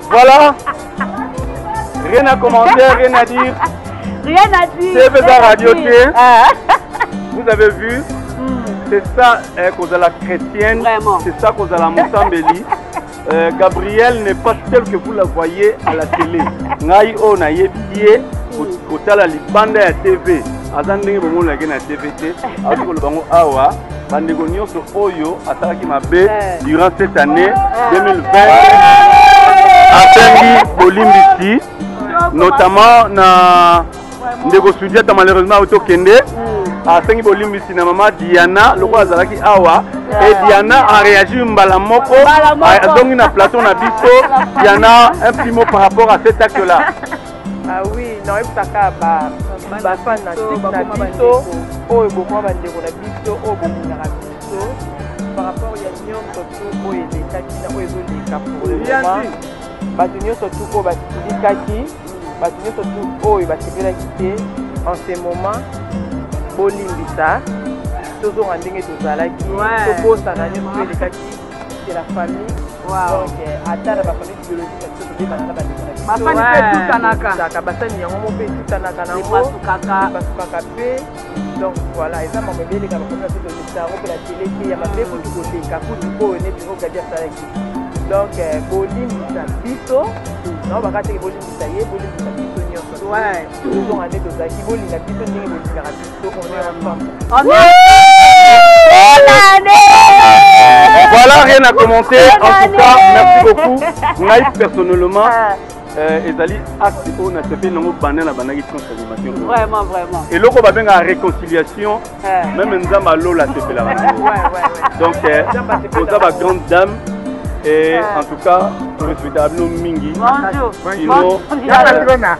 Voilà. Rien à commenter, rien à dire. Rien à dire. C'est Bézard Radio ah. Vous avez vu hmm. C'est ça eh, qu'on a la chrétienne. C'est ça qu'on a la Moussambéli. Euh, Gabriel n'est pas tel que vous la voyez à la télé. Ngai o oh, na yebiye kotala libanda ya TV. Aza ndenge bomona ke na TV te. Azokoloba ngo awa bandeko nyonso oyo asalaki mabe durant cette année 2020 asengi bolimbisi notamment na ndeko sudiata malheureusement auti okende asengi bolimbisi na mama diana lokola azalaki awa e diana areagir mbala moko azongi na plateau na biso diana un petit mot par rapport à cet acte là Ah oui, naoyebisaka ba ba fan na biso oyo bokoma bandeko na biso oyo bolingaka biso par rapport ya nyonso tu oyo elekaki na oyo ezoleka pour le moment bato nyonso tu oyo basilikaki bato nyonso tu oyo basepelaki te en ce moment bolimbisa tozonga ndenge tozalaki tobosana nyonso elekaki c'est la famille. Wow. Donc, euh, atteindre la famille biologique, c'est ce que les malades ont basani mpe etutanaka basani yango moko mpe etutanaka nangopasukaka basukaka mpe donc voilà eza mambo ebeleka bakomi ape tolekisa yango mpe na tele te ya mabe kutu koleka kutu oyo neti ogadi asalaki donc euh, bolimbisa biso nao bakateke bolimbisa ye bolimbisa biso nyonso tozonga nde tozalaki bolinga biso ndenge bolingaka biso Voilà, rien à commenter. En tout cas, merci beaucoup. Naïf, personnellement, ah. euh, ezali acte oyo nasepeli nango banda na bandaki france animation vraiment vraiment eloko babengaka réconciliation ah. même nzambe alola asepelaka nango donc euh, oza ba grande dame et ah. en tout cas torespektaka bino mingi sinon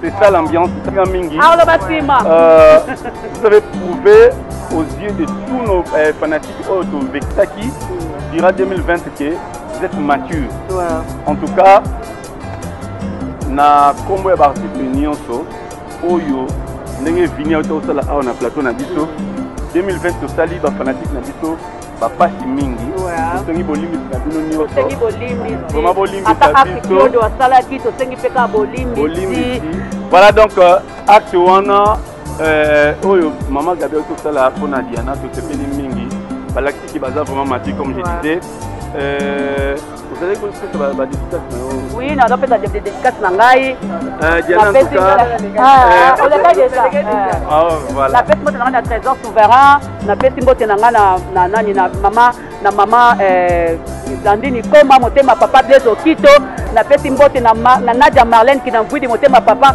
C'est ça l'ambiance, Tina Mingi. Arlo Batima. Euh, vous avez prouvé aux yeux de tous nos euh, fanatiques auto oh, Vexaki dira 2020 que vous êtes mature. Ouais. En tout cas, na combo ya baartiste nyonso oyo ndenge vini auta osala awa na plateau na biso 2020 tosali bafanatike na biso bapasi mingi tosengi bolimbisi na bino nyonsosengi bolimbisima bolimbisa biso asalaki tosengi mpe kaka bolimbisi voilà donc euh, acte wana euh, oyo mama gabriel tosala mpo na diana tosepeli mingi balakisi ki baza vraiment mati comme je disais euh, ozalaki kopesa badedikase na yo wi naza pesa dedikase na ngai napesi mbote na ngai na trésor souverain napesi mbote na ngai na nani na mama na mama blandine eh, koma motema papa blaise okito napesi mbote na nadia marlene kinangwidi motema papa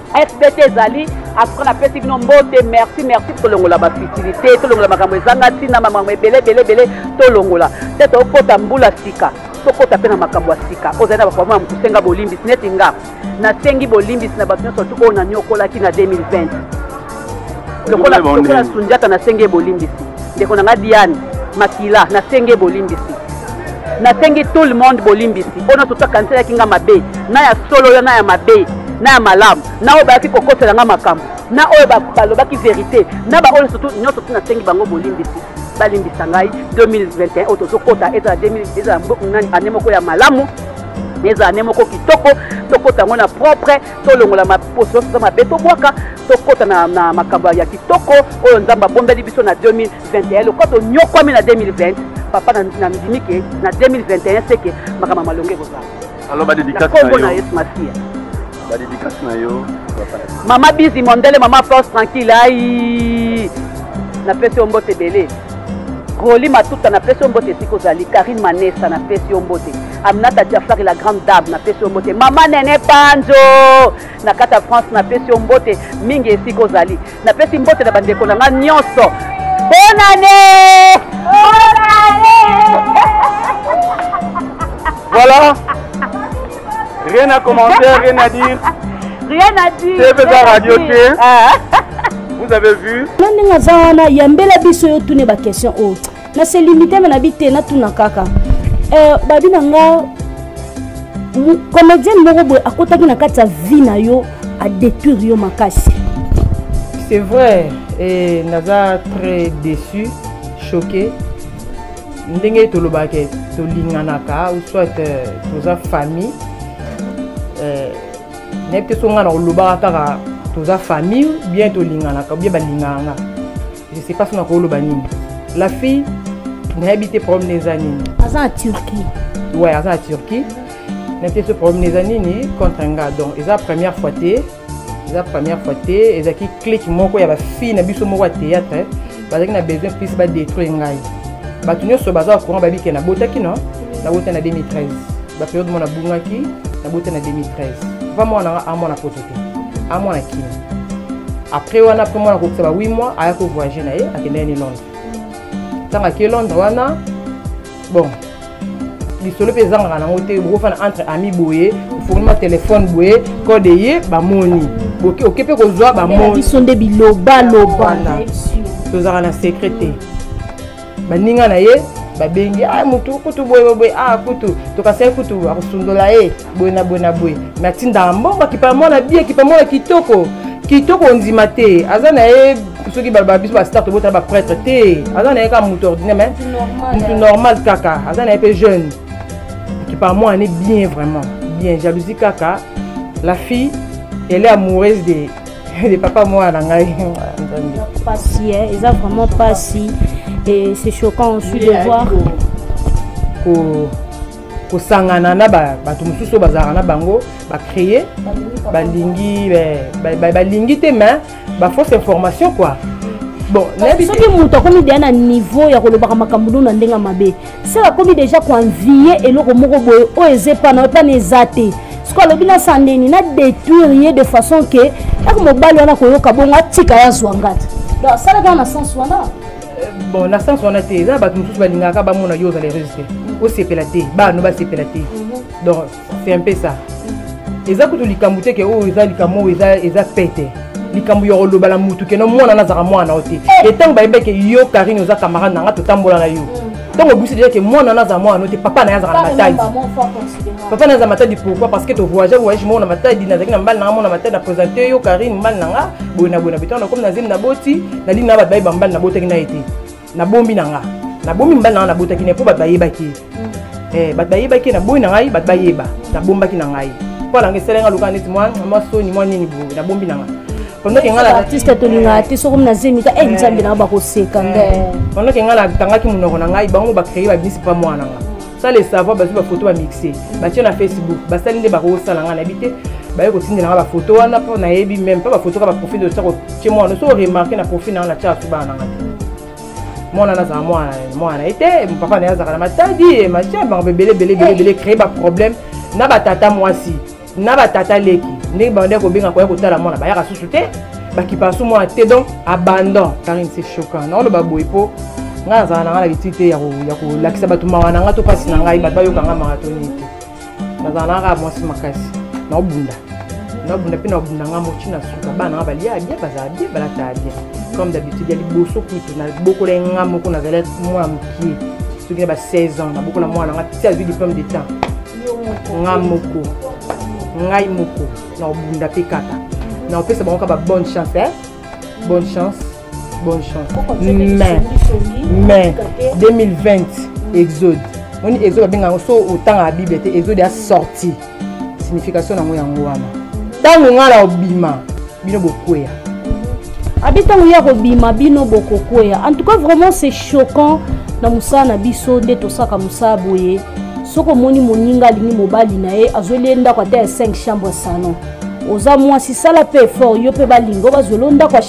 fbt ezali atuka napesi bino mbote merci merci tolongola bafutilité tolongola makambo ezanga ntina makambo ebele ebele ebele tolongola te tokota mbula sika tokota mpe na makambo ya sika ozali na bakomona mokusenga bolimbisi neti nga nasengi bolimbisi na bato nyonso tu oyo nanyokolaki na 2020 lokola lokola sunjata nasengi bolimbisi ndeko na nga diane makila nasengi bolimbisi nasengi tout le monde bolimbisi oyo nyonso to akaniselaki nga mabe na ya solo yo na ya mabe na ya malamu na oyo bayaki kokosela nga makambo na oyo balobaki verité na baoyo nyonso tu nasengi bango bolimbisi balimbisa ngai 2021 oyo tozokota ezala ezala ane moko ya malamu ezala ane moko kitoko tokota yango na propre tolongola maposo nyonso eza mabe tobwaka tokɔta na, na makambo ya kitoko oyo nzambe abombeli biso na 2021 lokola tonyokwami na 2020 papa na, na ndimi ke na 2021 seke makambo ya malonga ekozala alors badedikasi na yo yesu masiya badedikasi na yo mama bizi mondele mama force tranquille ai napesi yo mbote ebele goli matuta napesi yo mbote esika ozali karine manesa napesi yo mbote Aminata Jafari la grande dame na pesi mbote mama nene panzo na kata France na pesi mbote mingi esika ozali na pesi mbote na bandeko na nga nyonso bonne année bonne année voilà rien à commenter rien à dire rien à dire c'est pas radio c'est ah. vous avez vu na ndenge aza wana yambela biso yo tune bakestion oyo oh. na se limite me na bi te natuna kaka euh, babi na nga comédienne moko boye akotaki na kati ya vie na yo adétruire yo makasi c'est vrai et naza très déçu choqué ndenge tolobaka tolinganaka ou soit euh, toza famille euh, nayebi te so ngai na kolobaka kaka toza famille bien tolinganaka bien balingananga je sais pas sona koloba nini la fille nayebi te problème na eza nini aza na turquie ouais aza na turquie nayebi te so problème na eza nini contre nga donc eza première fois te eza première fois te ezalaki clique moko ya bafille na biso moko ya théâtre bazalaki na besoin plus badétruire ngai bato nyonso baza courant babike nabotaki no nabota na 2013 baperiode mona bungaki nabota na 2013 va mwana nga amwana poto a mwana kini après wana après mwana akokisa ba 8 mois aya kovoyage na ye akendaki ni londres ntango ake londres wana bon lisolo mpe ezangaka nango te bokofana entre ami boye ofonima telefone boye kode ye bamoni oke mpe kozwa bamoni biso nde bilobaloba tozalaka na secret te baninga na ye babengi a ah, motu kutu boye boye a ah, kutu tokasaki kutu akosundola ye boye na boye na boye me atindaka mbongo akipa mwana bi akipa mwana kitoko kitoko ondima te aza na ye soki baloba biso bastar tobotala baprêtre te aza na ye kaka motu ordinaire me motu normal kaka aza na ye mpe jeune akipa mwana ne bien vraiment bien jalousie kaka la fille elle est amoureuse de le papa mwana na ngai pasi eh, eza vraiment pasi et c'est choquant aussi de voir kosangana na bato mosusu oyo bazalaka na bango bacreye balingi balingi te mais bafausse information quoi bon soki moto akomi deya na niveau ya kolobaka makambo no na ndenge mabe seke akomi deja koenvie eloko moko boye oyo eza epa na yo epa na eza te soko alobi na sandeni na détruire ye de façon ke yaka mobali wana koyoka bongo atika ye azwa nga te donc asala kaka na sens wana euh, bon na sens wana te eza bato mosusu balingaka bamona yo ozala heureuse te osepela te bano basepela te mhm. donc c'est un peu ça eza kutu likambo te ke oyo eza likambo oyo eza pete likambo ya koloba na mutu keno mwana nazaka mwana na yo te e ntango bayebaki yo karine oza camarade na nga totambola na yo ntango obisi deja ke mwana nazala mwana no te papa na ye azalaka na matadi papa na aza matadi pourquoi parce que tovoyage voyage moko na matadi nazalaki na mbali na nga mona matadi na présente yo karine mbali na nga boye na boye na beto na komi na zemi na boti na lini na bato baye bambali na botaki na ye te nabombi na nga nabomi mobali na nga nabotaki na ye mpo bato bayebaki ye mm. eh, bato bayebaki ye naboyi na ngai bato bayeba nabombaki na ngai mpo alanga esala nga lokaa neti mwa soni mwa nini boye nabombi na nga pandoke nga artiste tolingaka te soki na zemi ta e nzambe na nga bakoseka nde pandoke nga natangaki monoko na ngai bango bacreye babisi mpa mwana nga sans le savoir bazwi bafoto bamixe batye na facebook basali nde bakosala ngai nayebi te baye kotindela ngai bafoto wana mpo nayebi meme mpe bafoto ka baprofil de sako tye mwana so oremarke na profil na ngai natya bato bana na ngai te mwana nazala mwana mwana na ye te papa na ye azalaka na matadi machin bango bebele bele bele bele créer baproblème na batata mwasi na batata leki ndenge babandaki kobenga koya kotala mwana bayaka susu te bakipa su mwana te donc abandon karine c'est choquant naoloba boye mpo ngai nazala na ngai na litili te ya kolakisa bato mawa na ngai to mpasi na ngai bato bayoka ngai maratoni te nazala na ngai kaka mwasi makasi naobunda naobunda mpe naobunda ngai moki na suka bana ngai balia bien bazala bien balatala bien comme d'habitude ya liboso kutu nabokola ye ngai moko nazalaki mwana mokie soki na ba 16 ans nabokola mwana ngai ti azwi diplome de temps nga moko ngai moko na obunda mpe kaka na opesa bango kaka babonne chance eh? bonne chance bonne chance mais mais 2020 exode moni exode babenga yango so otangaka bible te exode ya sorti signification na yango yango wana ntango ngai na obima bino bokwea abi ntango ye akobima bino bokokwea en tout cas vraiment c'est choquant na mosala na biso nde tosaka mosala boye soki omoni moninga alingi mobali na ye azweli ye ndako ata ya 5 chambre salon oza mwasi sala mpe effort yo mpe balingo bazweli yo ndako ya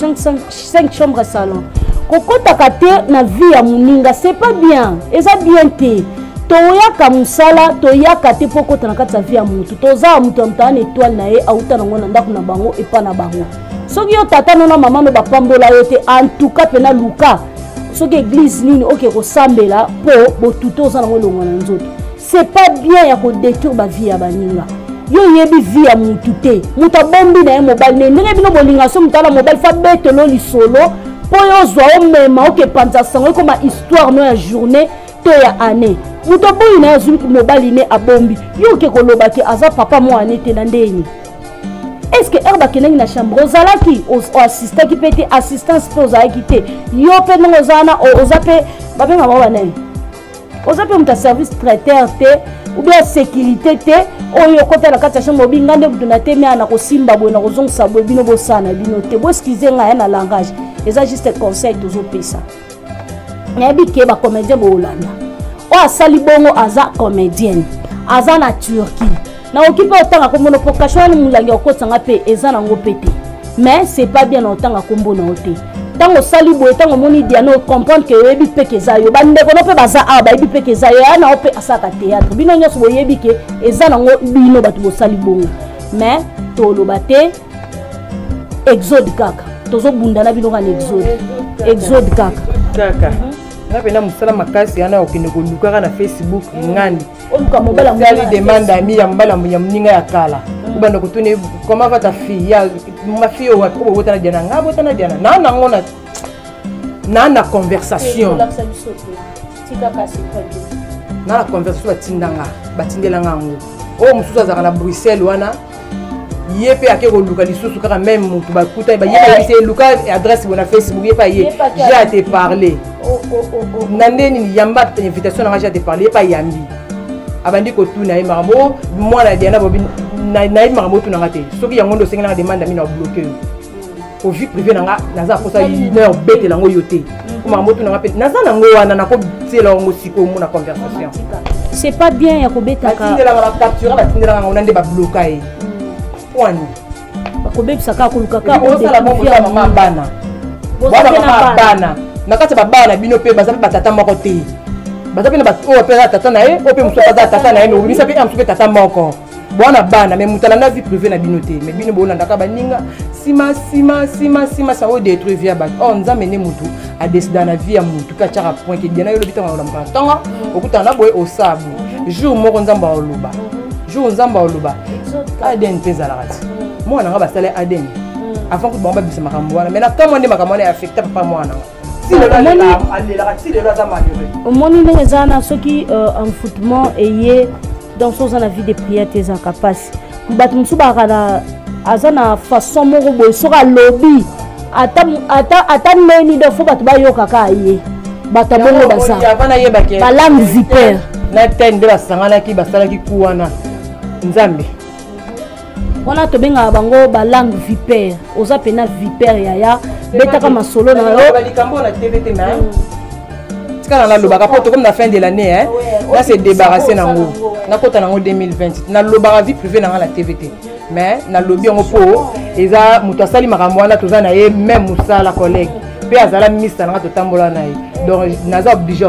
5 chambre salon kokotaka te na vie ya moninga c'est pas bien eza bien te toyaka mosala toyaka te mpo okota na kati ya vie ya motu toza ya moto ya moto aa na etoile na ye auta nango na ndako na bango epa na bango soki yo tata no na mama no bapambola yo te antuka mpena luka soki eglize nini oke kosambela mpo botuto oza nango elongwa na nzoto c'est pas bien ya kodétruire bavie ya baninga yo oyebi vie ya mutu te moto abombi na ye mobali ne ndenge bino bolinga so moto ala mobali fa betelo lisolo mpo yo ozwa omema okepanza sango ekoma histoire no ya journée to ya année moto aboyi na ye azwi mobali ne abombi yo oke koloba te aza papa mwa ane te na ndeni est ce que heure bakendaki na chambre ozalaki oassistaki mpe te assistance mpe ozalaki te yo mpe ndenge oza wana oza mpe babengaka wana ye oza mpe moto ya service traiteur te obi ya sécurité te oyo okota na kati ya chambre obi ngai nde moto na temi aya nakosimba boye nakozongisa boye bino bosala na bino te boeskize ngai ya na langage eza juste conseil tozopesa nayebi ke bacomédien boolanda oyo asali bongo aza comédienne aza na turquie nakoki mpe otanga nkombo no mpo kasho wana molangi ya kokotisa nga mpe eza nango mpe te mais c'est pas bien na otanga nkombo na yo te ntango osali boye ntango omoni diana ocomprendre ke oyebi mpe ke eza yo bandeko no mpe baza awa bayebi mpe ke eza yo ya na yo mpe asalaka théâtre bino nyonso boyebi ke eza nango bino bato bosali bongo mais toloba te exode kaka tozobunda na bino kana exode exode kaka kaka nga mpenza mosala makasi wana okende kolukaka na facebook ngani oluka mobala mosali demande ami ya mobala ya moninga ya kala obanda kotuna comment va ta fille ya ma fille oyo wapi obotana diana nga abotana diana naa nango na naa na conversation naa na conversation batinda nga batindela nga yango oyo mosusu azalaka na bruxelles wana ye mpe ake koluka lisusu kaka meme motu bakutani bayebisa ye luka adresse bona facebook ye mpe aye je a te parle oh, oh, oh, na nde nini yamba invitation nanga je a te parle ye mpe ayambi abandi kotuna ye makambo o mwana ya diana bobi nayebi makambo otunanga te soki yango nde osengi nanga demande amina obloke yo o vie privé na nga naza mposa une heure betela yango yo te po makambo tuna nga mpe naza nango wana nakotiela yango sikoyo omona conversation c'est pas bien ya kobetaka batindelaka bacaptura batindelaka yango na nde babloka ye pwani bakobebisa kaka koluka kaka osala bongo ya mama bana bana mama bana na kati ya babana bino mpe baza mpe batata moko te baza mpe na baoyo mpe aza tata na ye oyo mpe mosusu aza tata na ye mais obimisa mpe ya mosusu mpe tata moko bwana bana me moto alanda vie privé na bino te me bino bolandaka baninga nsima nsima nsima nsima sa oyo détruit vie ya bato or oh, nzambe nde motu adesida na vie ya motu mpe atyaka point ke diana yo olobi ntango nakolambaka ntongo okutana na boye osaa boye jour moko nzambe aoloba jour nzambe aoloba adn mpe ezalaka ti mwana nga basala adn avant kutu bango babisa makambo wana mai na kamwa nde makambo wana ya affecta papa mwana nga omoni ndenge eza wana soki euh, enfoutement eye donc so oza na vie de prière te ezalaka mpasi bato mosusu bakaka na aza na façon moko boye soki alobi ata neni donc fo bato bayokaka ye bato abongo baza balame viper na tene nde basanganaki basalaki ku wana nzambe wana tobengaka bango balangue vipere oza mpena vipere yaya betaka masolo na yo tika na nalobaka mpo tokomi na fin de l'année hein na se débarrasse nango nakota nango 2020 nalobaka vie privé na ngai na tv te mais nalobi yango mpo eza moto asali makambo wana toza na ye meme mosala collègue mpe azala minista na ngai totambola na ye donc naza oblige